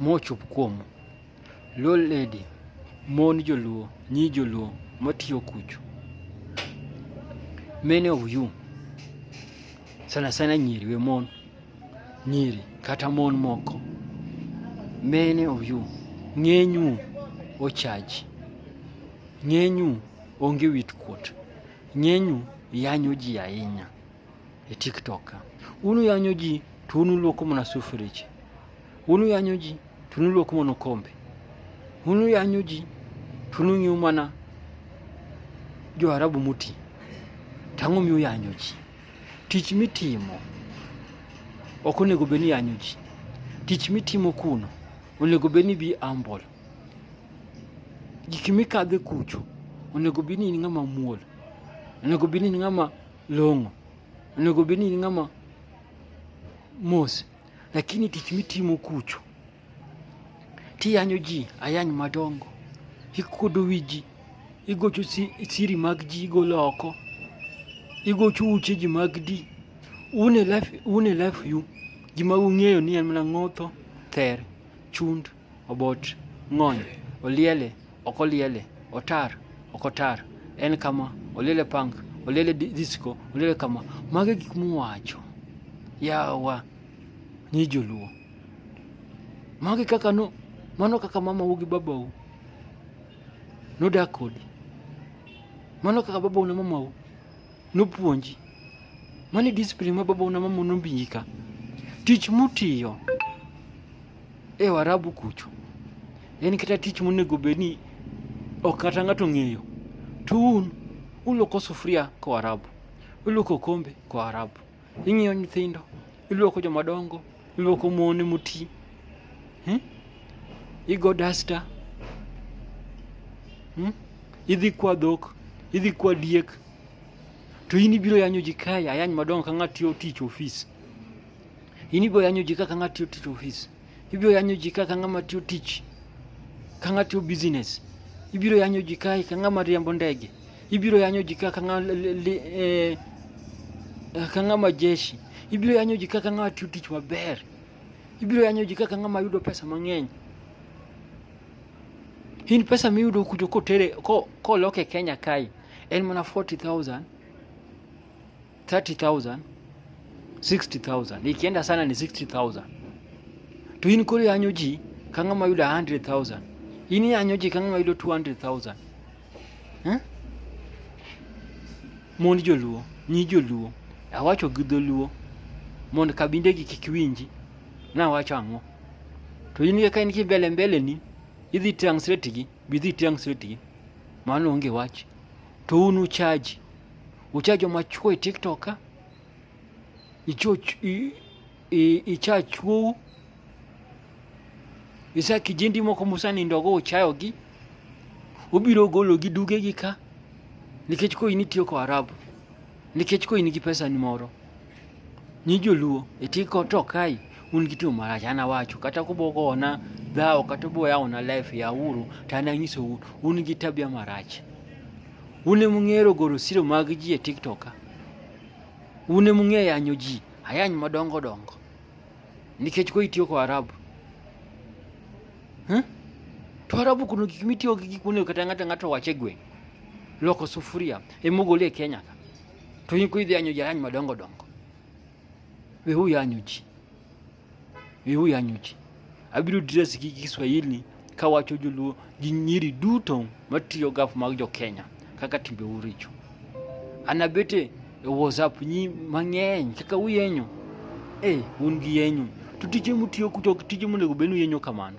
mochop kuomu. Luo lady, mon joluo, nyi joluo matiyo kucho. Many of you, sana sana nyiri we mon, nyiri kata mon moko. Many of you, ng'enyu ochaji, ng'enyu onge wit kuot, ng'enyu yanyo ji ahinya. e TikTok. Unu yanyo ji to unu luoko mana sufrich. Unu yanyo ji to unu luoko mana kombe. Unu yanyo ji to unu ng'iyo mana jo Arabu moti. To ang'o miyo yanyo ji? Tich mitimo ok onego bed ni yanyo ji. Tich mitimo kuno onego bed ni bi humble. Gik mikadhe kucho onego bed ni in ng'ama muol. Onego bed ni in ng'ama long'o, onego bed ni in ng'ama mos, lakini tich mitimo kucho tiyanyo ji ayany madongo, ikuodo wi ji, igocho siri mag ji igolo oko, igocho uche ji mag di un e life, un e life you gima ung'eyo ni en mana ng'otho, ther, chund Obot, ng'ony, oliele, ok oliele, otar, ok otar, en kama, oliele punk, oliele disco, oliele kama. Mage gik muwacho. Yawa, ni joluo. Mage kaka no, mano kaka mama wugi babau. Nodak kodi. Mano kaka babau na mamau. nopuonji. Mani discipline ma baba una mama nombinji ka. Tich mutiyo e Warabu kucho en kata tich monego bed ni ok kata ng'ato ng'eyo to un uloko sufuria ko Arabu, uloko kombe ko Arabu, Ing'iyo nyithindo, iluoko joma dongo, iluoko mon moti, hmm? igo dasta, hmm? idhi kwa dhok, idhi kwa diek, to in ibiro yanyo ji kae ayany madongo ka ng'at tiyo tich ofis. In ibiro yanyo ji kaka ng'at tiyo tich ofis. ibiro yanyo ji ka ng'ama tiyo tich ka ng'ama tiyo business ibiro yanyo ji kae ka ng'ama riembo ndege ibiro yanyo ji ka ng'ama eh, ka ng'ama jeshi ibiro yanyo ji ka ng'ama tiyo tich maber ibiro yanyo ji ka ng'ama yudo pesa mang'eny in pesa miyudo kucho kotere kolok e Kenya kae en mana 40000 30000 60000 ikienda sana ni 60000 to in koro yanyo ji ka ng'ama yudo 100000 in yanyo ji ka ng'ama yudo 200000 eh? mond joluo nyi joluo awacho gi dholuo mond kabindegi kik winji nawacho ang'o to in ka in kibele mbele ni idhi translate gi bidhi translate gi mano onge wach to un uchaji ucha joma chwo e tiktok ka icha chwou isa kijindi moko musanindogo uchayogi ubiro gologi dugegi ka nikech koro in itiyo ko arabu nikech koro in gi pesa ni moro Ni joluo eti to kai un gi tim marach an awacho kata kubogona dhawo kata uboyawona life ya uru to an anyisou un gi tabia marach un emung'ero goro siro mag ji e tiktok ka un emung'e yanyo ji ayany madongo dongo nikech ko itiyo ko arabu huh? to arabu kuno gik mitiyo gi gik monego kata ng'ato ng'ato wache gweng' loko sufuria emogole e kenya ka To in kuidhi yanyo jayany madongo dongo. We huyu yanyo ji. We huyu yanyo ji. Abiro dress gi Kiswahili kawacho joluo gi nyiri duto matiyo gaf mag jo Kenya kaka timbe uricho. Anabete e WhatsApp nyi mang'eny kaka uyenyo. Eh, un gi yenyo. To tije mutiyo kucho tije monego benu yenyo kamano.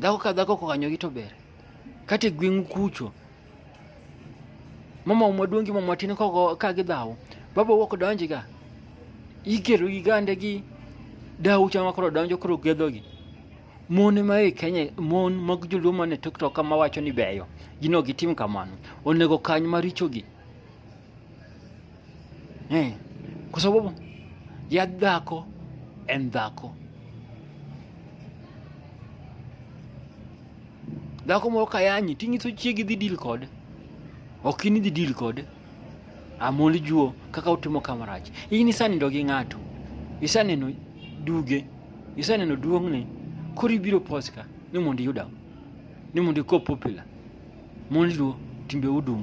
Dhako ka dhako kokanyogi to ber. Kata e gweng'u kucho, mama maduong' gi mama matin kogo ka gidhawo, baba wuok donjga, ikelo gi gande gi dawu chama koro donjo koro gedhogi. Mon ma e Kenya, mon mag joluo man e TikTok kama wacho ni beyo, gin ok gitim kamano. Onego kany marichogi. eh, kwa sababu ya dhako and dhako dhako moro kayanyi ting'iso chiegi dhi deal kode ok in idhi deal kode amol juo kaka utimo kamarach in isanindo gi ng'ato isaneno duge isaneno duong'ne koro ibiro poska ni mondo iyuda ni mondo iko popular Mon Luo, timbe udum.